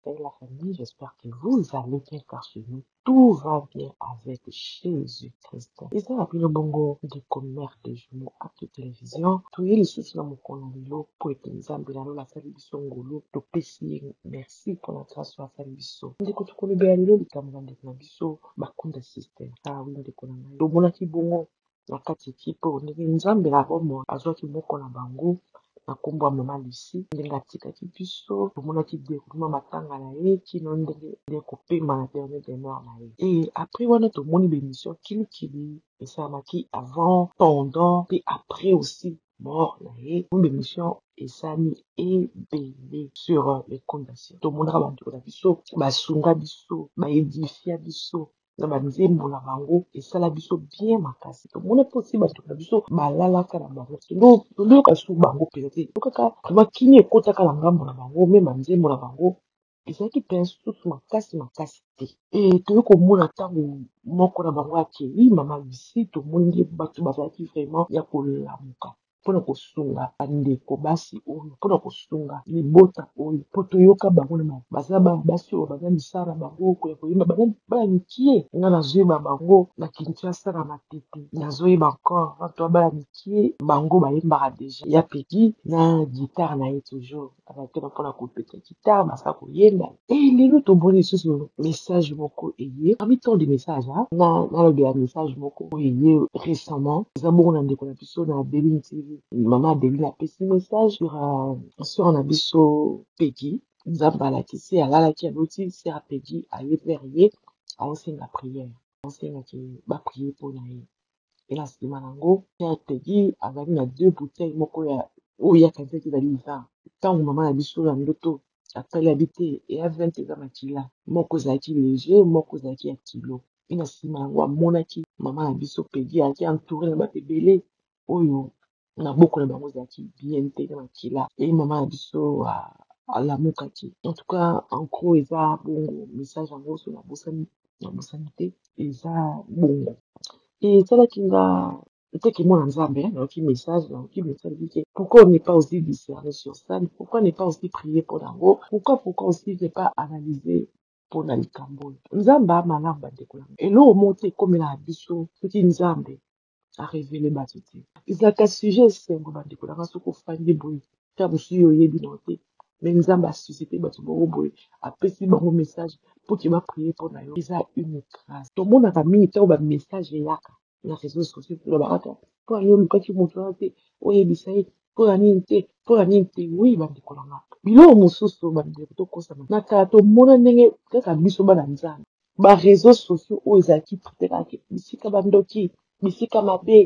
Et la famille, j'espère que vous allez bien car chez nous, tout va bien avec Jésus-Christ. eza na bino bongo ndeko mare de jumeau actu télévision toye lisusu na mokolo na lelo mpo ete nzambe na lola asali biso ngolu topesi ye merci mpo na grâce oyo asali biso ndeko tokolobela lelo likambo na ndeko na biso bakunda système awi ah ndeko na ngai tomonaki bongo na kati ya ekipe oyo ndenge Nzambe ya bomoi azwaki moko na bango na nkombo ya mama Lucie, ndenge atikaki biso tomonaki deroulement matanga na ye kino ndenge aye kopema na dernier demeure na ye et après wana tomoni ba emission kili kili esalamaki avant, pendant mpe après aussi mort na ye tomoni ba emission esalami ebele sur le compte ya Lucie tomonaka ba ndeko na biso basunga biso ba edifia biso na ba nzembo na bango esala biso bien makasi tomona mposi bato na biso balalaka na bango toyoka su bango mpenza te tokaka vraiment kimia ekotaka na ngambo na bango me ba nzembo na bango ezalaki mpenza susu makasi makasi te e toyei komona ntango moko na bango akei mama lucie tomoni nde bato bazalaki vraiment ya kolamuka mpo na kosunga bandeko basi oyo, mpo na kosunga libota oyo, mpo toyoka bango na ma, baza bana basi oyo baza misala na bango ya koyemba, baza bana mikie. Nga nazoyeba bango na Kinshasa na Matete, nazoyeba encore ba bana mikie, bango bayembaka dejà, ya Peguy na guitare na ye toujours. bazalaki wana mpona kobeta gitare basala koyemba e lelo tomoni lisusu message moko eye parmi tant de message na nalobela message moko oyo eye récemment eza bongo na ndeko na biso na adeline tv mama adeline apesi message sur euh, sur na biso pegi nzambe alakisi alalaki aloti sera pegi aye vers ye aosenga prière asengaki ba prier mpo na ye mpe na nsima na yango père Tegui azalaki na deux bouteilles moko ya oyo ye akanisaki ezali vin ntango mama na biso na ndoto atali abi te eya vin te eza makila moko ezalaki leger moko ezalaki ya kilo mpe na nsima na yango amonaki mama na biso Peggy azalaki entouré na bato ebele oyo na boko na bango ezalaki bien te na makila e mama na biso alamukaki en tout cas en gros eza bongo message yango so nabosani nabosani te eza bongo esalaki nga nteke mwana nzambe nayoki message nayoki message bike pourquoi on n'est pas aussi discerné sur ça pourquoi n'est pas aussi prier mpo na yango pourquoi pourquoi aussi ne pas analyser mpo na likambo oyo nzambe amalamu bandeko yango eloko moko te ekomela na biso soki nzambe a revele bato te ezalaka sujet esengo bandeko na nga soki ofandi boye ta mosusu yo oyebi na te me nzambe asusite bato moko boye apesi bango message mpo ke baprie mpo na yo eza une grâce tomonaka mingi ntango bamessage eyaka na réseau sociaux tolobaka ta mpo na nini olukaki moto wana te oyebisa ye mpo na nini te mpo na nini te wi bandeko na nga biloko mosusu bandeko tokosama na kala tomona ndenge kaka biso bana nzambe ba reseaux sociaux oyo ezalaki pritelaki bisika bandoki bisika mabe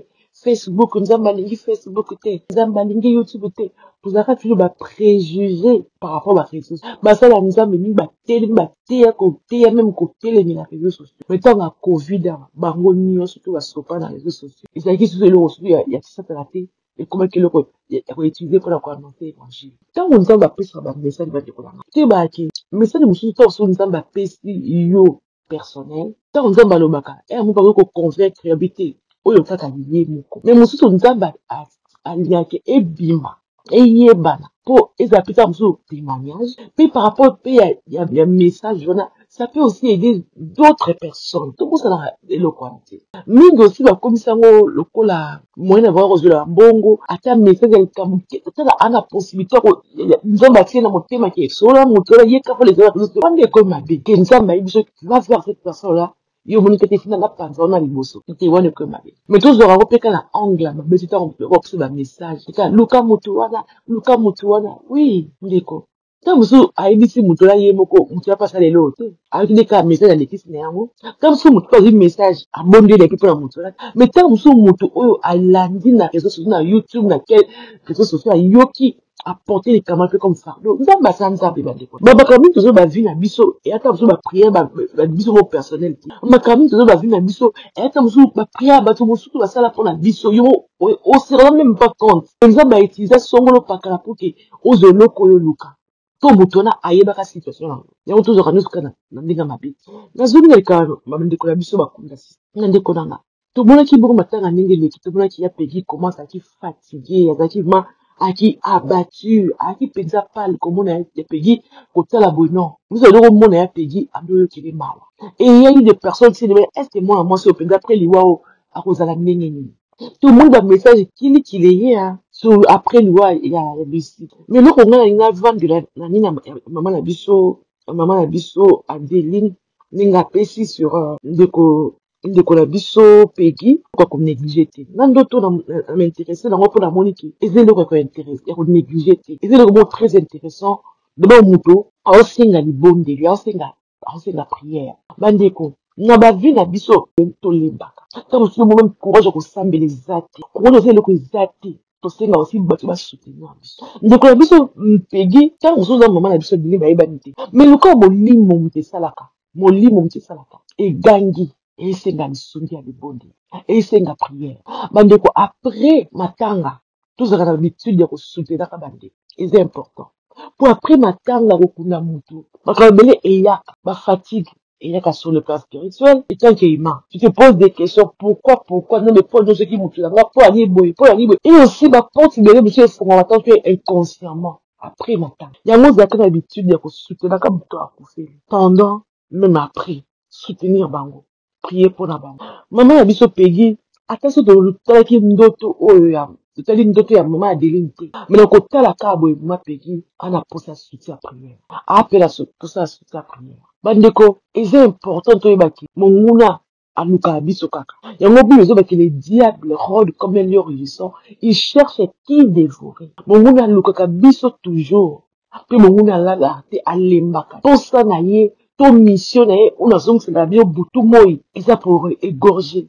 facebook nzambe alingi facebook te nzambe alingi youtube te tozalaka tino ba préjugé par rapport ba réseaux basala nzambe mingi batelemi bateya koteya meme kotelemi na réseaux sociaux me ntango ya covid awa bango nyonso to basopa na réseaux sociaux ezalaki susu eloko susu ya kisatana te ekomaki eloko ya koutilize mpo na koannonce évangile ntango nzambe apesaka bamessage bandeko na ngai teyebaka ke message mosusu ntango soki nzambe apesi yo personnel ntango nzambe alobaka yango eh, bakoki koconvaincre ya bi te oyo kaka ye moko me mosusu nzambe alingaki ebima eyebana mpo ezala mpe kaka mosusu témoignage mpe par rapport mpe ya, ya, ya message wana ça peut aussi aider d'autres personnes tobosanaka eloko wana te mingi osi bakomisa yango lokola moyen na bango kozwela mbongo ata message ya likambo te otala ana possibilité nzambe atie na motema ke sola moto wana ye kaka lezala biso te wana ekomi mabe ke nzambe ayebi biso va voir cette personne là yo omoni te te fina nga panza wana liboso te wana ekomi mabe mais tozwaka yango mpe kala angle mabe te ntango bakopesa bamessage eka luka moto wana luka moto wana wi ndeko ntango mosusu ayebisi moto na ye moko moto ya mpasa lelo te ayoki nde kaka message alekisi na yango ntango mosusu moto mpe azwi message abondeli na ye mpo na moto wana mai ntango mosusu moto oyo alandi na réseau sociaux na youtube na quel réseau sociaux ayoki aporte likama mpe comme fardeau nzambe asa nzambe bandeko makambo mingi tozoyo bavi na biso eyata mosusu bapriere biso mo personnel te makambo mingi tozoyo bavi na biso eyata mosusu bapriere ya bato mosusu basala mpo na biso yo oserana meme pas compte nzambe autiliza songolo pakala mpo ke ozwa eloko oyo oluka mpo moto wana ayebaka situation yango yango tozwaka nyonso kaka na ndenge ya mabe nazongi na likala bandeko na biso bakunda na ndeko na nga tomonaki bongo matanga ndenge eleki tomonaki ya pegi koma azalaki fatigue azalaki ma aki abatture aki mpenza pale komona ya pegi kotala boye non biso eloko omona ya pegi adoyokele mawa eyeli de personne sini est ce que mwana mwasi oyo mpenza apres liwa oyo akozala ndenge nini to moni ba message kili kili ye ya so après liwa ya bisi mais eloko nga na nga vandi na na nini mama na biso mama na biso Adeline ndenge apesi sur euh, ndeko ndeko na biso Peggy kwa ko negliger te na ndoto na na m'intéresser na ngo mpo na moni ke eza eloko ya ko intéresser ya ko negliger te eza eloko moko très intéressant d'abord moto aosenga libondeli aosenga asenga prière bandeko na bavi na biso tolembaka ta mosusu omome courage ya kosambela eza te courage eza eloko eza te tosenga osi bato basoutenir biso ndeko na biso mpegi ntango mosusu oza mama na biso ebele bayebani te mai lokola molimo moto esalaka molimo moto esalaka egangi esenga lisungi ya libondeli esenga prière bandeko après matanga tozalaka na habitude ya kosutenaka bandeko eza important mpo apres matanga kokunda motu makambo ebele eyaka bafatigue eyaka sur le plan spirituel etant que humain tu te pose des questions pourquoi pourquoi nzambe mpo anyosaki motu na nga mpo yangi boye mpo yangi boye et aussi baporte ebele mosusu efungwama tant que inconsciemment après matanga yango ozalaka na habitude ya kosutenaka motu akufeli pendant même après soutenir bango prie mpo na bango mama na biso pegi ata so totalaki ndoto oyo ya totali ndoto ya mama adeline te me na kotala kaka boye mama pegi ana posa suti ya priere apela posa ya suti ya priere bandeko eza important toyeba ke monguna alukaka biso kaka yango bible ezoba ke le diable rode comme un lion rugissant il cherche qui dévorer monguna alukaka biso toujours apres mongo na alalaka te alembaka mposa na ye to mission na ye oyo nazongisaka bino butu moi eza pour egorger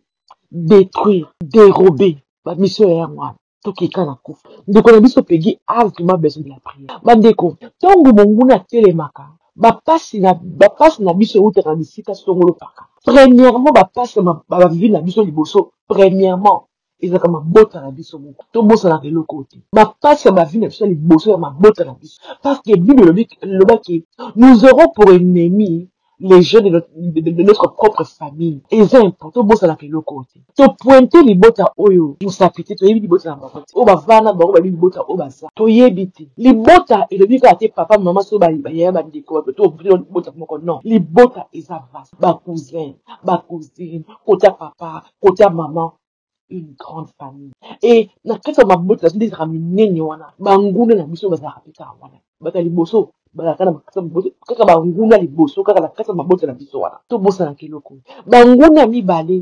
détruire dérober bamission ya yango wana tokeka na kufa ndeko na biso pegi ave tuma besoin de la prière bandeko ntango monguna atelemaka bapasi na bapasi na biso eutaka na bisika songolo paka premièrement bapasi na bavivi na biso liboso premièrement ezalaka mabota na biso moko tobosanaka eloko te bapasi ya bavi na biso ya liboso ya mabota na biso parce que bible elobaki nous aurons pour ennemi les jeunes de notre, de notre propre famille eza important tobosanaka eloko te topointe libota oyo mosapi te toyebi libota na bango te oyo bavana bango bayebi libota oyo baza toyebi te libota elobi kaka te papa mama so bayaya bandeko libota moko non libota eza vase bacousin bacousine kota papa kote ya mama une grande famille e na kati ya mabota nazo nde ezalaka minene wana banguna na biso bazalaka mpe kaka wana bato ya liboso bazalaka na kati ya mabota kaka banguna liboso kaka na kati ya mabota na biso wana tobosanaka eloko banguna mibale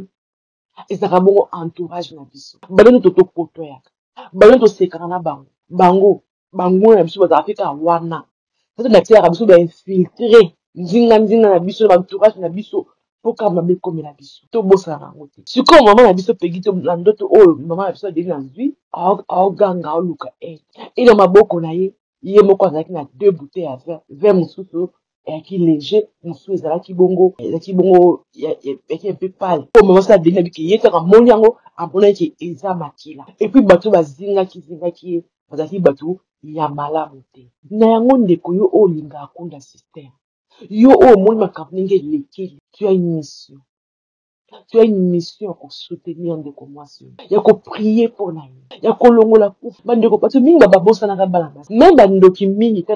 ezalaka bongo entourage na biso balono totokotoyaka balono tosekaka na bango bango banguna na biso bazalaka mpe kaka wana sasa nateyaka biso bainfiltre nzinga nzinga na biso na baentourage na biso mpo kaka mabe ekomela biso tobosana na yango te sikoyo mama na biso pegi to na ndoto oyo mama na biso adeli na zwi aoganga aoluka e na maboko na ye ye moko azalaki na deux bouteille ya vin vin mosusu eyaki lege mosusu ezalaki bongo ezalaki bongo yaki mpe pale po mama sala deni abiki ye kaka moni yango amonaki ke eza makila epuis bato bazingaki zingaki ye bazalaki bato ya malamu te na yango ndeko yo oyo olinga akunda systeme yo oyo omoni makambo ndenge elekeli tu as une mission tu as une mission ya kosoutenir ndeko mwasi oyo ya koprie mpo na ye ya kolongola kufa bandeko bato mingi babosanaka bana basi me bandoki mingi mpe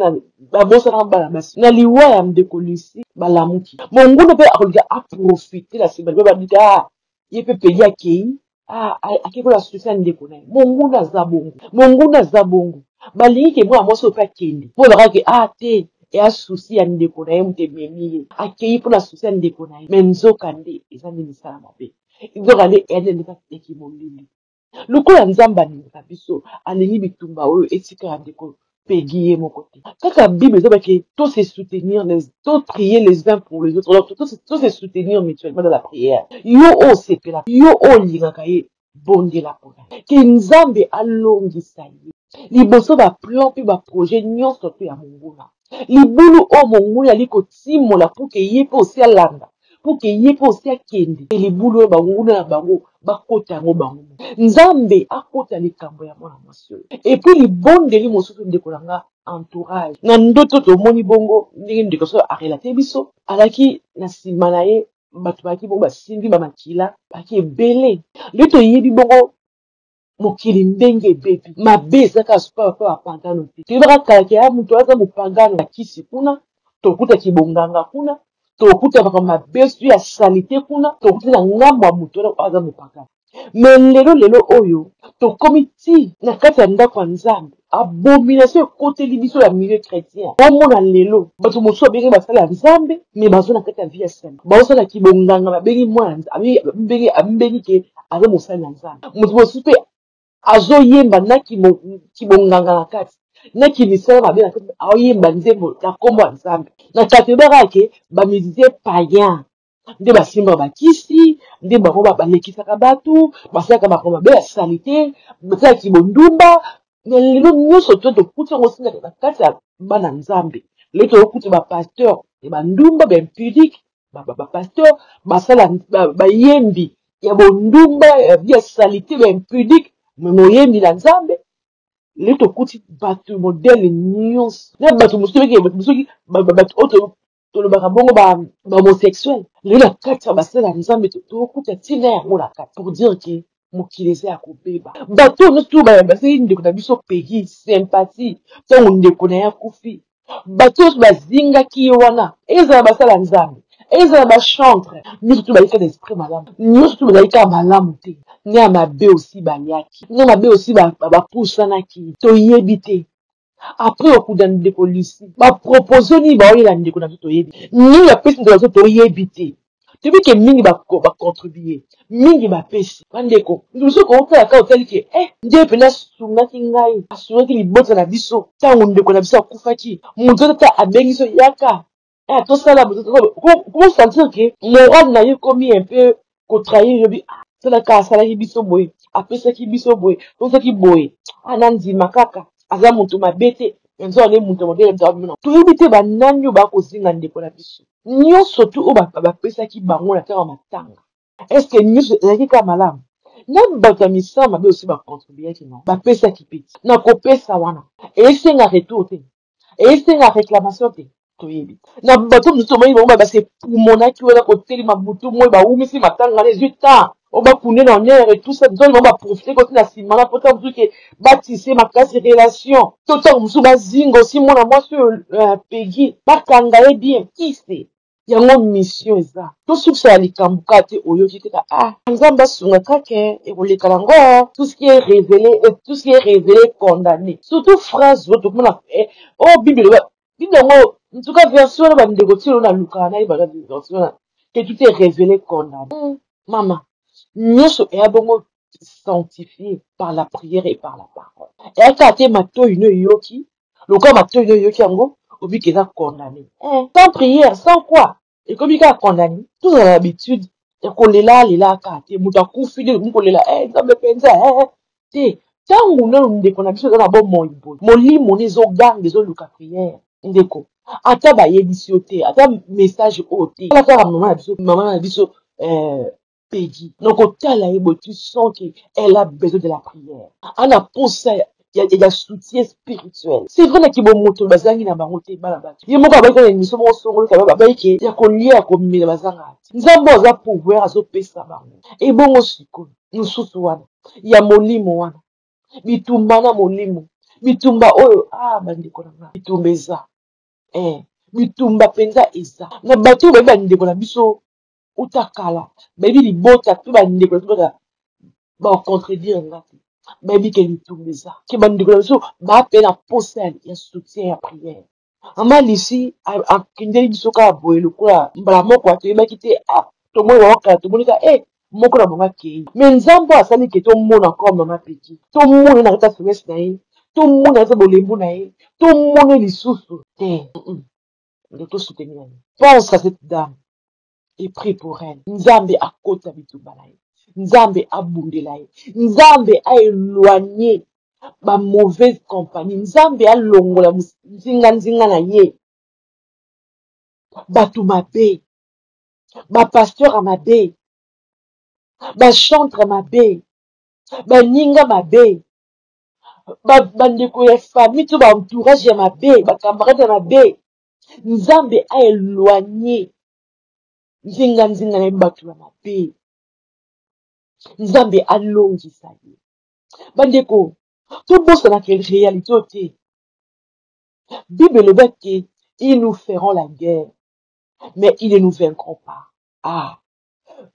babosanaka bana basi na liwa ya ndeko lusi balamuki monguna mpe akolinga aprofite na nsima mpe babika ah, ye mpe pedi akei Ah, ah, ake kola susi ya ndeko na ye monguna aza bongo monguna aza bongo balingi ke mwana mwasi oyo mpe akende mpo elaka ke a ah, te eya susi ya ndeko na ye moto ememi ye akei mpo na susi ya ndeko na ye me nzoka nde eza nde misala mabe nzoka nde eya nde ndeka ya kimolili lokola nzambe alinga biso alingi bitumba oyo etikala ndeko Peggy ye moko te kaka bible ezo bake to se soutenir les to prier les uns pour les autres alors to se soutenir mutuellement dans la prière yo o sepela yo o lingaka ye bondela pona ke nzambe alongisa ye liboso ba plan pe ba projet nionso to ya monguna libulu oyo monguna ali kotimola pour ke ye pe osi alanda pour que ye mpe osi akende mpe libulu oyo banguna na bango bakota yango bango moko nzambe akota likambo ya mwana mwasi oyo epuis libondeli mosusu ndeko na nga entourage na ndoto tomoni bongo ndenge ndeko soki arelate biso alaki na nsima na ye bato balaki bongo basimbi bamakila baki ebele nde toyebi bongo mokili ndenge ebebi mabe eza kaka sikoyo mpe bapagano te toyebaka kala ke a moto aza mopagano na kisi kuna tokuta kibonganga kuna tokuta makambo mabe su ya salite kuna tokuta na ngambo ya moto wana aza mopagano me lelo lelo oyo tokomi ti na kati ya ndako ya nzambe abomination ekoteli biso ya milieu chrétien omona lelo bato mosusu babengi basali ya nzambe me bazo na kati ya vie ya sema baosala kibonganga babengi mwana abengi ke aza mosali ya nzambe moto mosusu mpe azoyemba na kibonganga na kati na kimisala mabe na kati aoyemba nzembo na nkombo ya nzambe na katribaka ke bamizisie payen nde basimbaka bakisi nde bango balekisaka bato basalaka makambo mabe ya salite basalaki bondumba na lelo nyonso to tokuti yango sina na kati ya bana nzambe lelo toyokuti bapasteur ya bandumba baimpudique bapasteur basala bayembi ya bondumba ya salite baimpudique me moyembi na nzambe lelo tokuti bato modele nyonso na bato mosusu soki bato oyo tolobaka bongo ba homosexuel lelo na kati ya basala ya nzambe tokuta ntina yango na kati pour dire ke mokili eza ya kobeba bato oyo nyonso oyo bazali ndeko na biso pegi sympathie ntango ndeko na ye akufi bato oyo bazingaki ye wana ezala basala nzambe ezala bachantre nyonso to bayika na esprit malamu nyonso to bazali kaka malamu te na mabe osi bayaki na mabe osi bapusanaki toyebi te Après okuda ndeko Lucie ba proposons nini baoyela ndeko nabiso toyebi nini bapesi ndeko nabiso toyebi te toyebi ke mingi ba contribue mingi bapesi bandeko ndeko Lucie okoki kotala kaka otali ke eh nde pena asungaki ngai asungaki libota nabiso tango ndeko nabiso akufaki mutu ata abengisi yo yaka ah tosala ko sentir que morale na yo ekomi un peu ko trahir yo bi ah tala kaka asalaki biso boye apesaki biso boye tosaki boye ah na ndima kaka aza moto mabe te yanzu ane moto mabe ya nzambe na toyebi te banani oyo bakozinga ndeko na biso nyonso tu oyo bapesaki bango na ntango matanga Est ce que nyoso ezalaki kaka malamu? Nanu bato ya misala mabe osi ba contribuaki no, bapesaki mpe te. Na kopesa wana, esenga retour te? Esenga reclamation te? Toyebi te. Na bato mosusu tomoni bango ba se pumonaki wana kotelema butu moi bawumisi matanga wana ezui temps o ba kunde na honneur et tout ça donc bango ba profiter koti na sima wana mpo tango mosusu ke ba tisser makasi relation to tango mosusu bazinga osi mwana mwasi oyo Peggy bakanga ye bien qui sait. Yango mission eza tosukisa ya likambu ka te oyoki te ka ah nzambe asunga ka ke ekoleka na ngo tout ce qui est revele et tout ce qui est revele condamne surtout phrase oyo tokomona eh oh bible eloba bible yango en tout cas version wana bandeko ti elo nalukaka nayeba na version wana que tout est revele condamne mm. mama nyonso eya bongo sanctifié par la prière et par la parole eyaka te matoyi no eyoki lokola matoi yo eyoki yango obiki eza condamne eh, sans prière sans quoi ekomi kaka condamne tozala na habitude ya kolela lela kaka te moto akufi nde ekomi kolela eh, nzambe mpenza eh, eh, te ntango nano ndeko na biso eza na bomoi boye molimo nde ezoganga ezoluka prière ndeko ata bayebisi yo te ata message oyo te kala kaka mama na biso mama na biso eh, pays na kotala ye boye tu sens que elle a besoin de la prière ana posa ya, ya, ya soutien spirituel c'est vrai na kibomoto bazangi na bango te bana bato ye moko abaki na émission moko songolo kaba babaki ke ya kolia ya komela bazanga te nzambe aza pouvoir azopesa bango ebongo sikoyo mosusu wana ya molimo wana bitumba na molimo bitumba oyo ah bandeko na nga bitumba eza eh bitumba mpenza eza na bato oyo bayebi bandeko na biso uta kala bayebi libota mpe bandeko na libota bacontredire nga te bayebi ke litumba eza ke bandeko na biso bape na mposa ya soutien ya priere mama lisi akendeli biso kaka boye lokola mbala moko atoyebaki te ah, tomoni bango kala tomoni ka e eh, moko na bango akei me nzambe asali ke tomona koma mama peki tomona na kati ya semese na ye tomona kati ya bolembu na ye tomoni lisusu te Nde to soutenir ye. Pense à cette dame et prie pour elle. Nzambe akota bitumba na ye. Nzambe abundela ye. Nzambe a éloigner ba mauvaise compagnie. Nzambe alongola nzinga nzinga na ye. Bato mabe. Ba pasteurs ya mabe. Ba chantres mabe. Baninga mabe. ba bandeko ya famille to ba entourage ya mabe ba camarade ya mabe nzambe a éloigné nzinga nzinga na bato ya mabe nzambe alongisa ye bandeko tobosana ke réalité oyo te bible eloba ke ils nous feront la guerre mais ils ne nous vaincront pas ah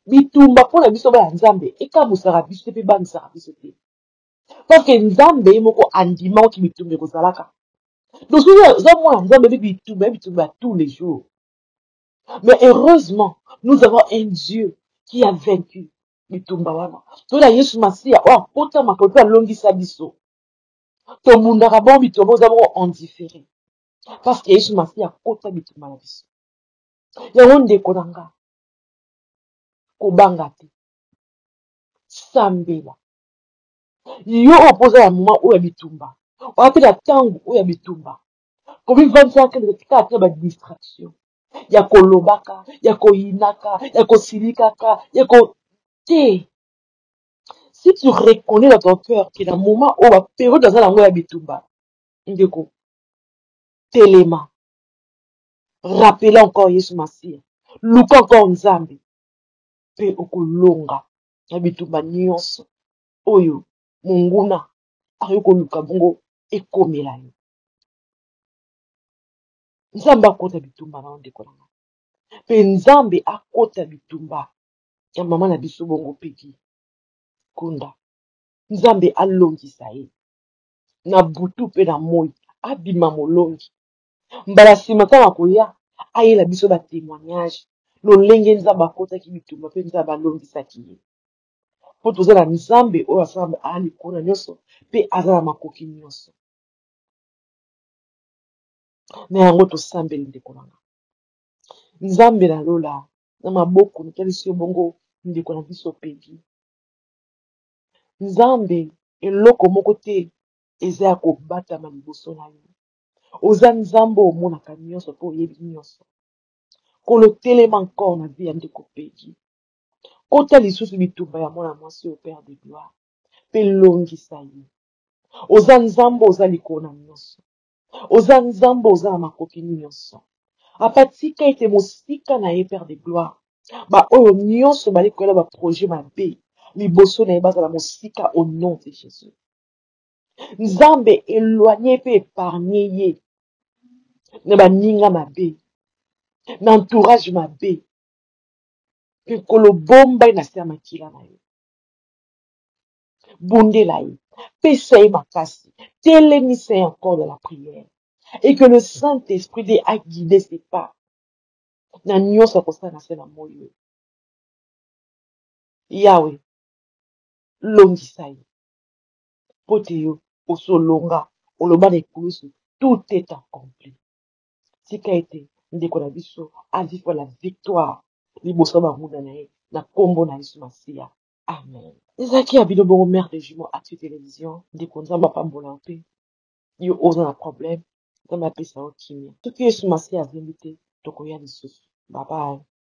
bitumba mpo na biso baya nzambe ekamusaka biso te mpe bangisaka biso te parce que nzambe ye moko andimaki bitumba ekozalaka donc soki oza mwana nzambe ebi bitumba bitumba ya tous les jours mais heureusement nous avons un dieu qui a vaincu bitumba wana toyela yesu masiya oyo akotama po mpe alongisa biso tobundaka bongo bitumba oza bongo endiffere parce que yesu masiya akota bitumba na biso yango ndeko na nga kobanga te sambela yo oyo mpo oza na moma oyo ya bitumba oya mpe na ntango oyo ya bitumba komivandisaka kaka mpe ba distraction ya kolobaka ya koyinaka ya kosilikaka ya ko te si tu reconnais dans ton cœur ke na moma oyo baperiode aza na yango ya bitumba ndeko telema rappele encore yesu masiya luka encore nzambe mpe okolonga na bitumba nyonso oyo monguna akoki koluka bongo ekomela yo nzambe akota bitumba na yo ndeko na ngai mpe nzambe akota bitumba ya mama na biso bongo peki kunda nzambe alongisa ye na butu mpe na moi abima molongi mbala nsima ntango akoya ayela biso batemoignage lolenge nzambe akotaki bitumba mpe nzambe alongisaki ye mpo toza na nzambe oyo asalamba aa likolo na nyonso mpe aza na makoki nyonso na yango tosambeli ndeko na nga nzambe na lola na maboko natalisi yo bongo ndeko na biso pegi nzambe eloko moko te eza ya kobatama liboso na yo oza nzambe omonaka nyonso mpe oyebi nyonso kolo telema encore na vie ya ndeko pegi kota lisusu bitumba ya mwana mwasi oyo père de gloire mpe longisa ye oza nzambe oza likolo na nyonso oza nzambe oza na makoki nyonso apa tika ete mosika na ye père de gloire baoyo nyonso bali koyela baprojet mabe liboso na ye bazala mosika au nom de jésus nzambe eloigne mpe epargne ye na baninga mabe na entourage mabe mpe nkolo bomba ye na se ya makila na yo bondela ye pesa ye makasi telemisa ye encore dans la prière et que le saint esprit nde aguide ses pas na nyonso akosala na se na moi oyo yawe longisa ye mpo te yo osolonga oloba na ekulusu tout est accompli tika ete ndeko na biso a vivre la victoire liboso ya banguna na ye na kombo na yesu masiya amen ezalaki ya bino bongo mère de jumeaux actu television ndeko nzambe apambola yo mpe yo oza na problème nzambe apesa yo kimia soki yesu masiya azembi te tokoya lisusu babaye